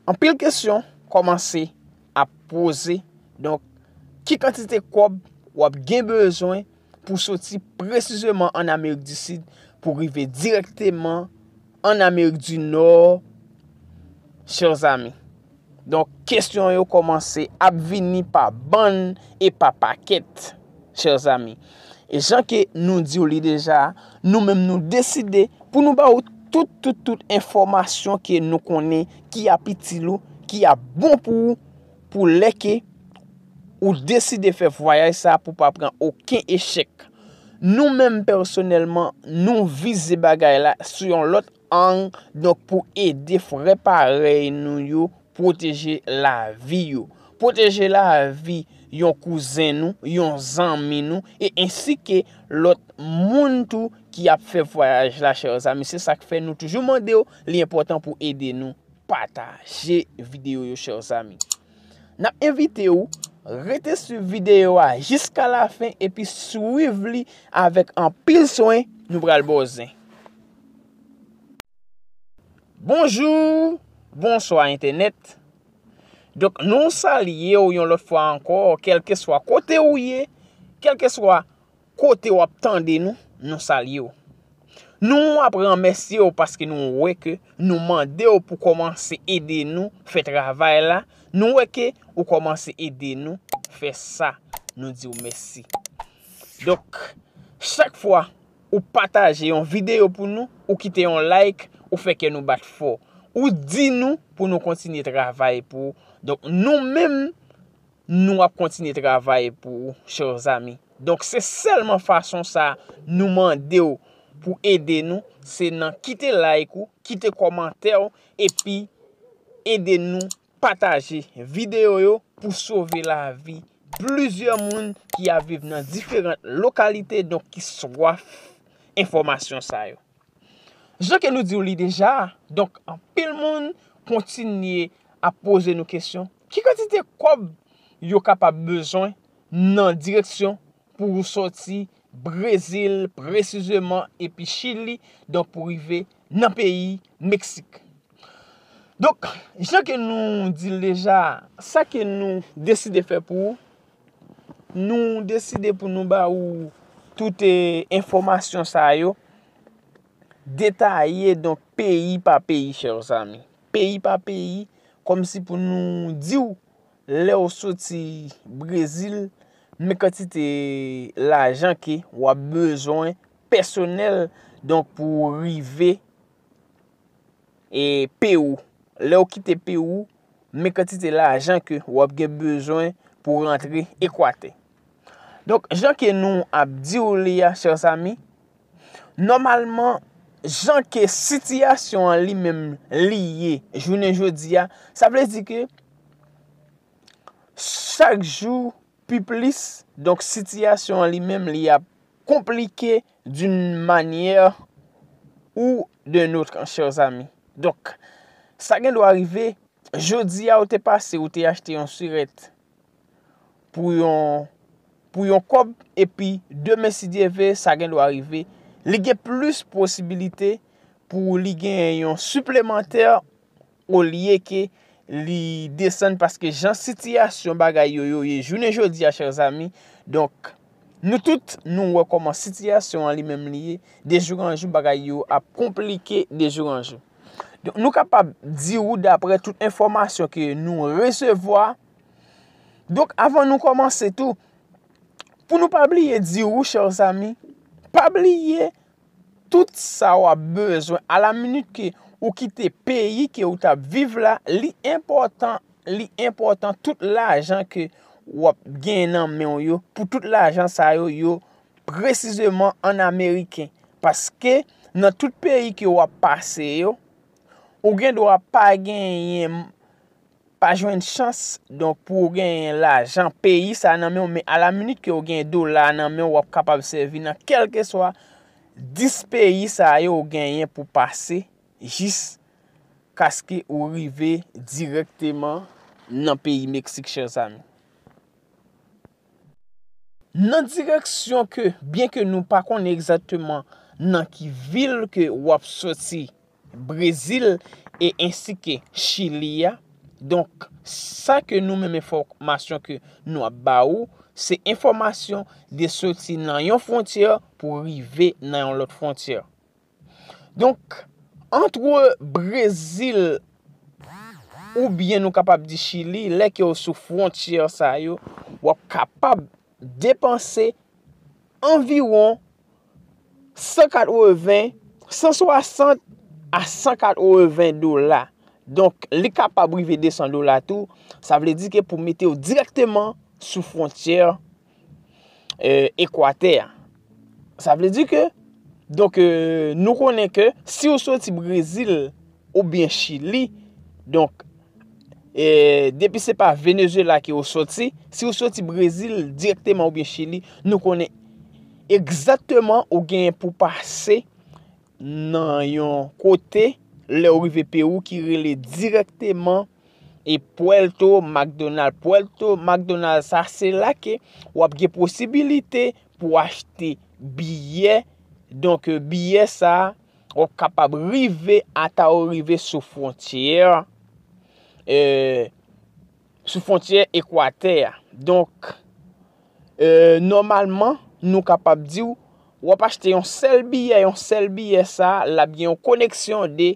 Anpil kesyon kòmanse ap poze, donk ki kantite kòb w ap gen bezwen pou soti presizeman an Amerik di Sid pou rive direkteman an Amerik di Nò, chè zanmi? Donk kesyon yo kòmanse ap vini pa bann e pa pakèt. Chers amis, e jan ke nou di w li deja, nou menm nou deside pou nou ba ou tout, tout, tout enfòmasyon ke nou konnen ki ap itil ou, ki ap bon pou ou, pou lè ke ou deside fè vwayaj sa pou pa pran oken echèk. Nou menm pèsonèlman, nou vize bagay la sou yon lòt. Ang, donk pou ede frè parèy nou yo pwoteje lavi yo. Pwoteje lavi yon kouzen nou, yon zanmi nou, e ensi ke lòt moun tou ki ap fè vwayaj la chè zanmi. Se sak fè nou toujou mande w li enpòtan pou ede nou pataje videyo yo chè zanmi. Nap envite w rete swiv videyo a jiska lafen epi swiv li avèk anpil swen nou pral ba w zen. Bonjour, bonswa entènèt. Donk nou salye ou yon lòt fwa ankò, kelke swa kote ou ye, kelke swa kote ou ap tande nou, nou salye ou. Nou ap remèsye ou paske nou wè ke nou mande ou pou kòmanse ede nou fè travay la, nou wè ke ou kòmanse ede nou fè sa, nou di ou mèsi. Donk, chak fwa Ou pataje yon videyo pou nou, ou kite yon like, ou fè kè nou bat fò. Ou di nou pou nou kontinye travay pou ou. Donk nou menm nou ap kontinye travay pou ou chers amis. Donk se sèlman fason sa nou mande ou pou ede nou, se nan kite like ou, kite kòmantè ou epi ede nou. Pataje videyo yo pou sove lavi plizyè moun ki ap viv nan diferant lokalite donk ki swaf enfòmasyon sa yo. Jan ke nou di w li deja, donk anpil moun kontinye ap poze nou kesyon, ki kantite kòb yo kapab bezwen nan direksyon Pou ou soti Brezil presizeman epi Chili donk pou rive nan peyi Meksik. Donk jan ke nou di l deja sa ke nou deside fè pou ou, nou deside pou nou ba ou tout enfòmasyon sa yo detaye donk peyi pa peyi chè zanmi. Peyi pa peyi kòm si pou nou di ou. Lèw soti brezil men kantite lajan ke wap bezwen pèsonèl donk pou ou rive Perou. Lèw kite Perou men kantite lajan ke wap gen bezwen pou rantre ekwatè. Donk, jan ke nou ap di ou li a, chers amis, nòmalman, jan ke sitiyasyon an li menm li ye, jounen jodi a, sa vle di ke, chak jou pi plis, donk sitiyasyon an li menm li ap konplike doun manyè ou de notr, chers amis. Donk, sa gen dwa rive, jodi a ou te pase, ou te achte yon sirèt, pou yon pou yon kòb epi demen si Dye ve sa gen dwa rive li gen plis posibilite pou li gen yon siplemantè olye ke li desann paske jan sitiyasyon bagay yo yo ye jounen jodi a chèr zami donk nou tout nou wè kòman sitiyasyon an li menm li ye dejouranjou bagay yo ap konplike dejouranjou. Nou kapab di ou dapre tout enfòmasyon ke nou resevwa. Donk avan nou kòmanse tou, pou nou pa bliye di ou chè ou zami, pa bliye tout sa ou ap bezwen a la minit ke ou kite peyi ke ou tap viv la, li enpòtan, li enpòtan tout lajan ke ou ap gen nan men ou yo, pou tout lajan sa yo yo. Presizeman an ameriken. Paske nan tout peyi ke w ap pase yo, ou gen dwa pa genyen, pa jwenn chans donk pou w genyen lajan peyi sa nan men w. Men a la minit ke w genyen dola nan men w, w ap kapab sèvi nan kèlkeswa 10 peyi sa yo ou genyen pou pase jis kaske ou rive direkteman nan peyi Meksik chèzanmi. Nan direksyon ke byen ke nou pa konnen egzakteman nan ki vil ke wap soti brezil e ensi ke chili a donk sa ke nou menm enfòmasyon ke nou ap ba ou se enfòmasyon de soti nan yon fwontyè pou rive nan yon lòt fwontyè. Donk, antre Brezil oubyen nou kapab di Chili, lè ke ou sou fwontyè sa yo, w ap kapab depanse anviwon 180, 160 a 180 dola. Donk, li kapab rive 200 dola tou, sa vle di ke pou mete ou direkteman sou fwontyè ekwatè a. Sa vle di ke, donk nou konnen ke, si ou soti Brezil ou byen Chili, donk, depi se pa Venezuela ke ou soti, si ou soti Brezil direkteman ou byen Chili, nou konnen egzateman ou gen pou pase nan yon kote lè ou rive Peru ki rele direkteman e Puerto McDonald. Puerto McDonald sa se la ke wap gen posibilite pou achte biyè. Donk biyè sa wap kapab rive ata ou rive sou fwontyè euh, sou fwontyè Ekwatè a. Donk euh, nòmalman nou kapab diw wap achte yon sèl biyè, yon sèl biyè sa lap gen yon koneksyon de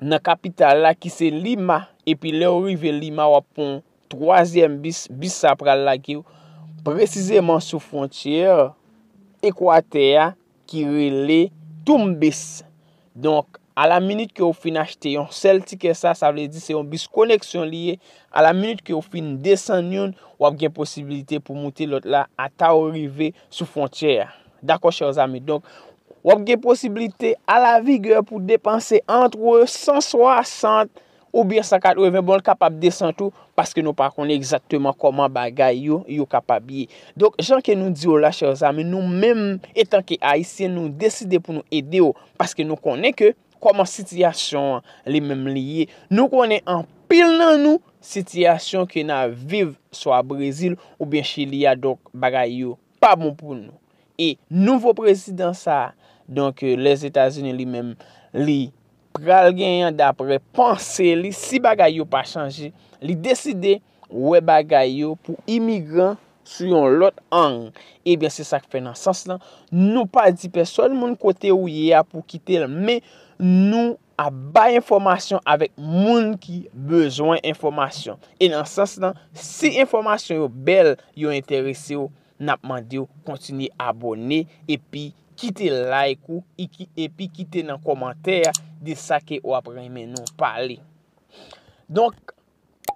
nan kapital la ki se Lima, epi lè ou rive Lima wap pran twazyèm bis, bis sa pral lage ou presizeman sou fwontyè Ekwatè a ki rele Tumbes. Donk, a la minit ke ou fin achte yon sèl tikè sa, sa vle di se yon bis koneksyon li ye, a la minit ke ou fin desann youn, wap gen posibilite pou moute lòt la ata ou rive sou fwontyè a. Dakò chers amis donk wap gen posibilite a la vigueur pou depanse antre 160 ou byen 180 bon kapab desan tou paske nou pa konnen egzakteman koman bagay yo yo kapab ye. Donk jan ke nou di yo la chers amis nou menm etan ke ayisyen nou deside pou nou ede yo paske nou konnen ke koman sitiyasyon an li menm li ye nou konnen anpil nan nou sitiyasyon ke nan viv swa Brezil ou byen chili a donk bagay yo pa bon pou nou. E nouvo prezidan sa a, donk Lèzetazini li menm, li pral genyen dapre panse li, si bagay yo pa chanje, li deside wè bagay yo pou imigran sou yon lòt ang. Ebyen se sa k fè nan sans lan, nou pa di pèsòn moun kote ou ye a pou kite l, men nou ap bay enfòmasyon avèk moun ki bezwen enfòmasyon. E nan sans lan, si enfòmasyon yo bèl, yo enterese w, n ap mande w kontinye abòne epi kite like ou epi kite nan kòmantè a de sa ke w ap renmen nou pale. Donk,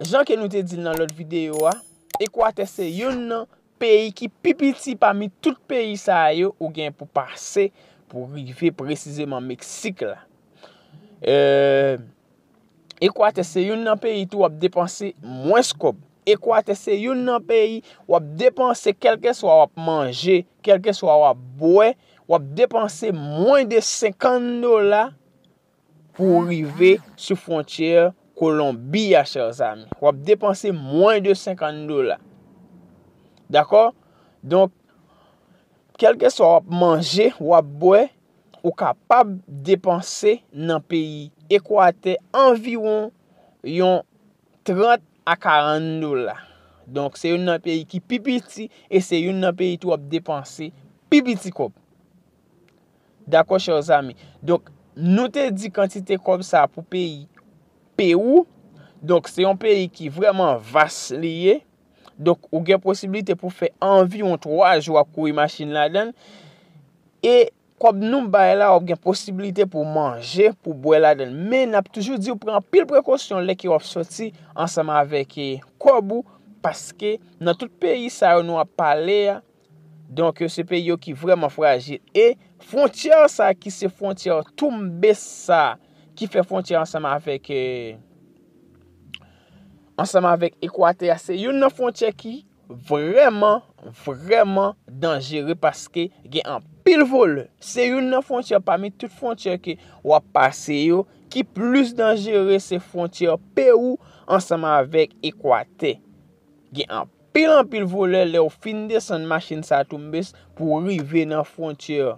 Jan ke nou te di l nan lòt videyo a, Ekwatè se youn nan peyi ki pi piti pami tout peyi sa a yo ou gen pou pase pou rive presizeman Meksik la. Ekwatè se youn nan peyi tou w ap depanse mwens kòb. Ekwatè se youn nan peyi w ap depanse kèlkeswa w ap manje, kèlkeswa w ap bwè, w ap depanse mwen de 50 dola pou w rive sou fwontyè Kolonbi a chè zami. W ap depanse mwen de 50 dola. Dakò? Donk, kelke swa w ap manje, w ap bwè, ou kapab depanse nan peyi Ekwatè anviwon yon 30 a 40 dola. Donk, se yon nan peyi ki pi piti e se yon nan peyi tou w ap depanse pi piti kòb. Dakò chè zami. Donk, nou te di kantite kòb sa a pou peyi Pewou. Donk, se yon peyi ki vreman vas li ye. Donk, ou gen posibilite pou fè anviwon 3 jou ap kouri machin ladan. E, kòb nou bay la, ou gen posibilite pou manje, pou bwè ladan. Men, nap toujou di ou pran pil prekosyon lè ki wap soti ansanm avèk kòb ou. Paske, nan tout peyi sa yo nou ap pale a. Donk se peyi yo ki vreman frajil. E fwontyè sa ki se fwontyè toumbe sa ki fè fwontyè ansanm avèk e ansanm avèk ekwatè a se yon nan fwontyè ki vreman vreman danjere paske gen an pil vole. Se yon nan fwontyè pami tout fwontyè ke wap pase yo ki plis danjere se fwontyè peyou ansanm avèk ekwatè. Pil anpil volè lèw fin desann machin sa Tumbes pouw rive nan frontyè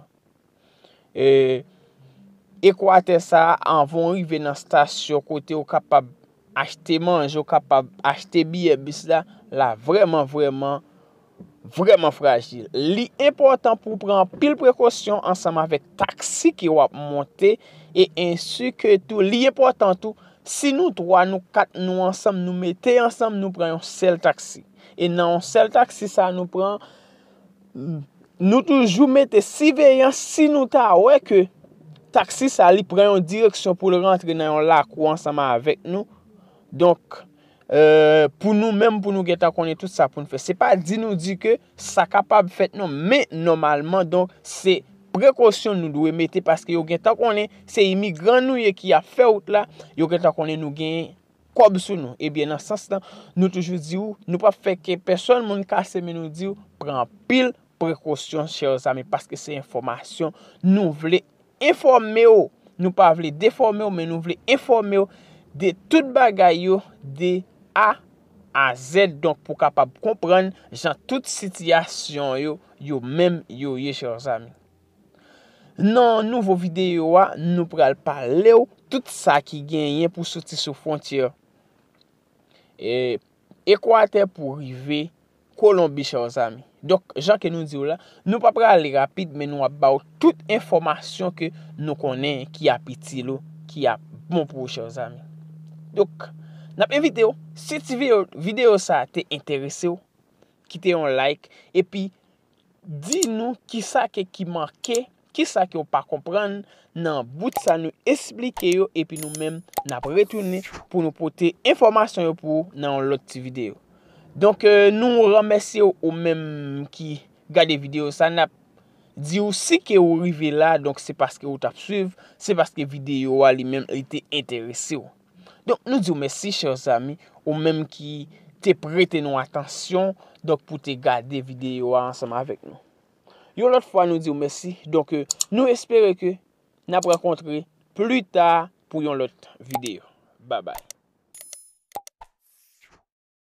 Ekwatè sa anvan ou rive nan stasyon kote ou kapab achte manje ou kapab achte biyè bis la la vrèman vrèman vrèman frajil li enpòtan pouw pran anpil prekosyon ansanm avèk taksi ke wap monte e ensi ke tou li enpòtan tou Si nou 3, nou 4 nou ansanm nou mete ansanm nou pran yon sèl taksi. E nan yon sèl taksi sa nou pran, nou toujou mete siveyans si nou ta wè ke taksi sa li pran yon direksyon pou l rantre nan yon lakou ansanm avèk nou. Donk, euh, pou nou menm pou nou gentan konnen tout sa pou n fè. Se pa di nou di ke sa kapab fèt non, men nòmalman donk se prekosyon nou dwe mete paske yo gentan konnen se imigran nou ye ki ap fè wout la, yo gentan konnen nou gen kòb sou nou. Ebyen nan sans lan, nou toujou di ou, nou pap fè ke pèsòn moun kase men nou di ou, pran anpil prekosyon chè zami paske se enfòmasyon nou vle. enfòme w, nou pa vle defòme w men nou vle enfòme w de tout bagay yo de A a Z donk pou kapab konprann jan tout sitiyasyon yo yo menm yo ye chers amis. Nan nouvo videyo a nou pral pale w tout sa ki genyen pou soti sou frontyè e Ekwatè pou rive Kolonbi chè w zanmi. Donk jan ke nou di w la, nou pa prale rapid men nou ap ba w tout enfòmasyon ke nou konnen ki ap itil ou, ki ap bon pou ou chè w zanmi. Donk, n ap envite w, si ti videyo sa te enterese w, kite yon like, epi Di nou kisa ke ki manke, kisa ke ou pa konprann nan bout sa nou esplike yo epi nou menm nap retounen pou nou pote enfòmasyon yo pou ou nan yon lòt ti videyo. Donk nou remèsye ou ou menm ki gade videyo sa nap di ou si ke ou rive la donk se paske ou tap swiv, se paske videyo a li menm li te enterese ou. Donk nou diw mèsi chè zami ou menm ki te prete nou atansyon donk pou te gade videyo a ansanm avèk nou. Yon lòt fwa nou diw mèsi donk ke nou espere ke nap rankontre plita pou yon lòt videyo. Babay.